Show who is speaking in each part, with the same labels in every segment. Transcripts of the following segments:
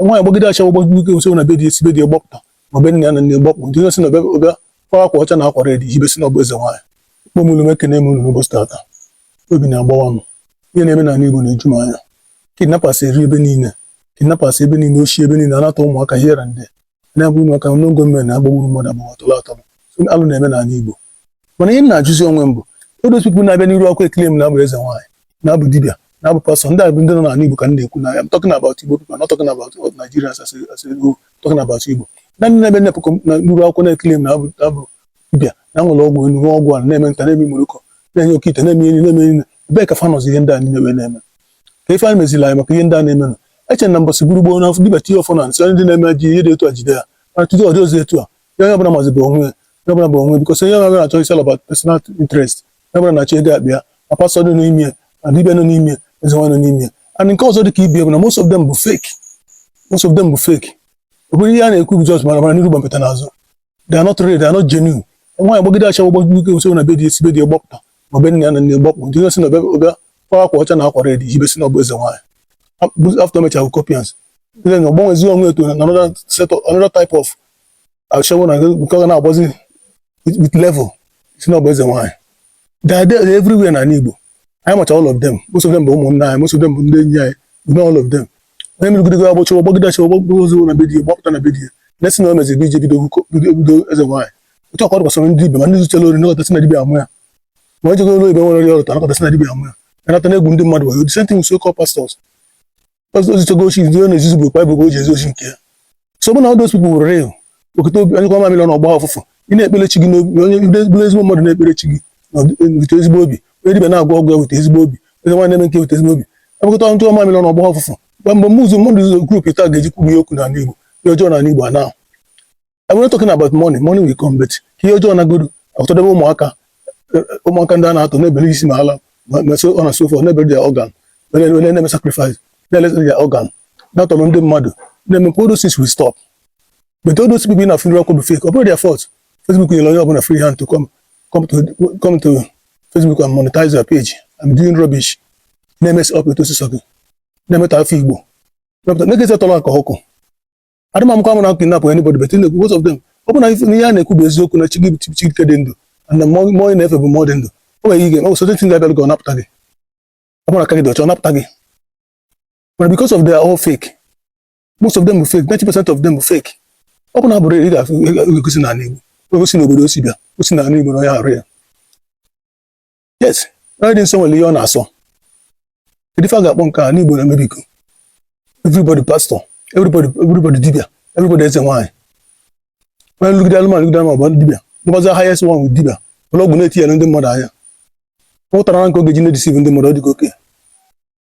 Speaker 1: nwaanyị gbagide ashawo gbagide ọsọ na be di o si be di gbapụta ma be nne ya na nna gbapụ ndị na-esi na ọ bịa ọ bịa kwa akwa ọcha na akwa red yibe sị na ọ bụ eze nwaanyị kpọm ụmụnne m ekene m unu n'ụbọchị tata obi na-agbawa m ihe na-eme n'ala Igbo na-eju m anya kidnappers eri ebe niile kidnappers ebe niile oshi ebe niile a na-atọ ụmụaka here and there na-egbu ụmụaka unknown gunmen na-agbagburu mmadụ agbagbu atọrọ atọrọ alụ na-eme n'ala Igbo mana ihe m na-ajụzi onwe m bụ those people na-abịa n'iru akwụkwọ eclaim na-abụ eze nwaanyị na-abụ dibịa na-abụ pastọ ndị abụ ndị nọ n'ala Igbo ka m na-ekwu na I'm talking about Igbo people not talking about all Nigerians as a as a whole talking about Igbo na ndị na-abịa na-apụkọ na n'iru akwụkwọ na-eclaim na-abụ na-abụ dibịa na nwere ọgwụ elu nwee ọgwụ ala na-eme nta na-eme moroko na-enye oke ite na-eme enyi na-eme enyi ebee ka fa nọzi ihe ndị a niile wee na-eme ka ife anyị meziri anyị maka ihe ndị a na-eme nụ eche na mbọsị bụrụ gboo na dibịa tinye ọfọ n'anị sị ndị na-eme ji ihe dị etu a jide ya mana taata ọ dịrọzi etu a ya onye ọbụla mazi bụ onwe ya onye ọbụla bụ onwe ya because onye ọbụla na-achọ it's all about personal interest onye ọbụla na-achọ ego akpa ya ma pastọ dị n'ime ya ma dibịa nọ n'ime ya eze nwaanyị nọ n'ime ya and nke ọzọ dị ka ibi bụ na most of them bụ fake most of them bụ fake ọ bụrụ ihe a na-ekwu bụ just mara mara n'iru gwompiti n'azụ they are not real they are not genuine nwaanyị gbagide ashawo gbagide ọsọ na be di o si be di gbapụta ma be nne ya na nna gbapụ ndị na-esi na ọ bịa kwa akwa ọcha na akwa red yibe sị na ọ bụ eze nwaanyị after mecha bụ copians then ọ gbanwezi onwe into another set of another type of ashawo na nke ọ ga na-agbazi with with level sị na ọ bụ eze nwaanyị they are there everywhere na ala Igbo anyị macha all of them most of them bụ ụmụnna anyị most of them bụ ndị enyi anyị we know all of them onye merigidego ya gba ashawo gbagide ashawo gbagide ọsọ na be di ya gbapụta na be di ya na-asị na o nwezi ebe ije bido hookup bido bido eze nwaanyị otu ahụ kwa gbasara ndị dibịa ma ndị zuchara ori nọkata sị na dibịa amụ ya ma onye jegoro ebe nwere ọrịa ọrụta nọkata sị na dibịa amụ ya anata na-egwu ndị mmadụ wayo the same thing with so-called pastors o zichago oshi ndị ọ na-ezizi bụ ekwe bụ o ji ezi oshi nke ya so ọ bụ na those people were real okete obi anyụkọọ mamịlị ọnụ ọ gbaa ụfụfụ ị na-ekpere chi gị n'obi onye ndị bụrụ ezigbo mmadụ na-ekpere chi gị na ọdị- wete ezigbo obi onye dibịa na-agwọ ọgwụ ya wete ezigbo obi onye nwaanyị na-eme nke wete ezigbo obi ebukọta ọnụ mamịlị na ọ gbaa ụfụfụ mgbe mgbe mụzụ mmadụ zụzọ group taa ga-eji kwubu ya okwu n'ala Igbo ihe ọjọọ n'ala Igbo anaa I'm not talking about money money will come but ihe ọjọọ nagodu atọdebe ụmụaka ụmụaka ndị a na-atọ na-ebere isi ma ala ma so on and so forth na-ebere their organ onye na-eme sacrifice na-eleta their organ na-atọrọ ndị mmadụ na-eme all those things will stop but all those people na-afụ na-ekwu bụ fake ọ bụrọ their fault Facebook nyere onye ọbụla free hand to come come to come to Facebook and monetize your page and doing rubbish na-emess up etu osisi ọkụ na-emetọ afa Igbo na-egezi atọrọ aka ọkụ adịmamkwa m na kidnap anybody but na-ekwu most of them ọ bụ na ihe a na-ekwu bụ eziokwu na chi gị chi nke dị ndụ and mmụọ ị na-efe bụ mmụọ dị ndụ o nwere ihe ọ bụ certain things ga-abịara gị ọ napụta gị ọ bụrụ aka gị dị ọcha ọ napụta gị mana because of they are all fake most of them bụ fake 90 percent of them bụ fake ọ bụ na abụ real ị ga-egosi n'ala Igbo egosi n'obodo o si bịa o si n'ala Igbo na onye arụ ya yes onye dị nsọ nwere ihe ọ na-asọ kedu ife a ga-akpọ nke a n'igbo na-eme biko everybody pastor everybody everybody dibia everybody eze nwaanyị onye nlụgide alụmanụ lụgide alụmanụ bụ ndị dibia ndịbazi aha yes nwa nwere dibia ụlọ ọgwụ na-etinyere ndị mmadụ anya ọ pụtara na nke ọ ga-eji na-edeceive ndị mmadụ ọ dịka oke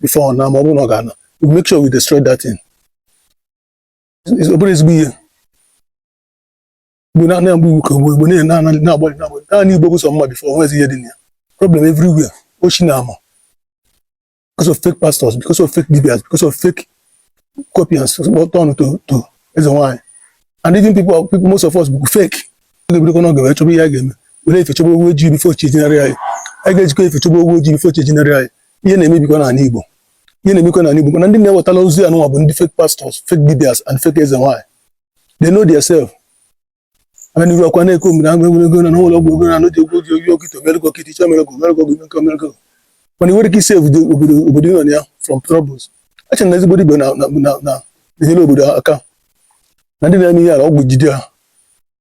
Speaker 1: before ọ na ma ọ bụrụ na ọ ga-ana we make sure we destroy that thing ọ bụrụ ezigbo ihe igbo na na-agba iwu ka igbo igbo na-agbalị na-agbalị na-agbalị na anị igbo bụ sọ mma before o nwezi ihe dị na ya problem everywhere ochi na ama because of fake pastors because of fake dibias because of fake copians turn to to eze nwaanyị and even people people most of us bụ fake ga-ebidokwa n'oge wee chọba ihe a ga-eme were efe chọba ewu ojii before chi ejinarị anyị anyị ga-ejikọ efe chọba ewu ojii before chi ejinarị anyị ihe na-emebikwa n'ala Igbo ihe na-emekwa n'ala Igbo mana ndị na-ewetala ozi a nụnwa bụ ndị fake pastors fake dibias and fake eze nwaanyị they know their self ananiru akwa na-eke omere agụ enwere ego na n'ụlọ ọgwụ ego na anụ ji egwu oge oyi okite omerego okite iche omerego omerego oge nke omerego mana i nwere ike isave obodo obodo obodo nọ na ya from troubles eche na ezigbo dibia na na na na enyere obodo aka na ndị na-eme ihe ala ọgwụ jide ha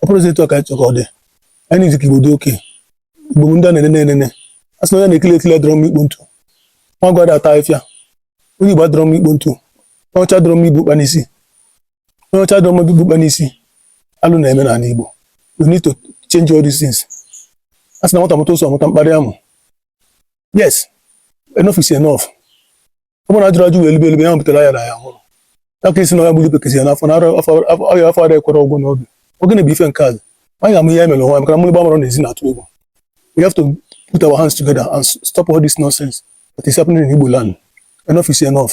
Speaker 1: ọ bụrọ etu a ka anyị chọrọ ọ dị anyị na-eji ka igbo dị oke igbo ndị a na-enene enene a sị na onye na-ekili ekili adịrọ mma ikpo ntu nwa gwada ata afịa onye igbo adịrọ mma ikpo ntu onye ọcha adịrọ mma igbu ụkpa n'isi onye ọcha adịrọ mma igbu ụkpa n'isi alụ na-eme n'ala igbo we need to change all these things a sị na nwata mụta ụsọ mụta mkparị amụ yes enough is enough ọ bụrụ na ajụrọ ajụ wee libe elibe ya butere ayarọ aya nwụrụ ya ka isi na ya gburu bekezi ya n'afọ na ọya afọ ada ekwere ọgwụ n'oge oge na-ebu ife nke azụ anyị ga-amụ ihe ya mere nwa maka na mmiri gbamara n'ezi na-atụ egwu we have to put our hands together and stop all this nonsense that is happening in Igbo land enough is enough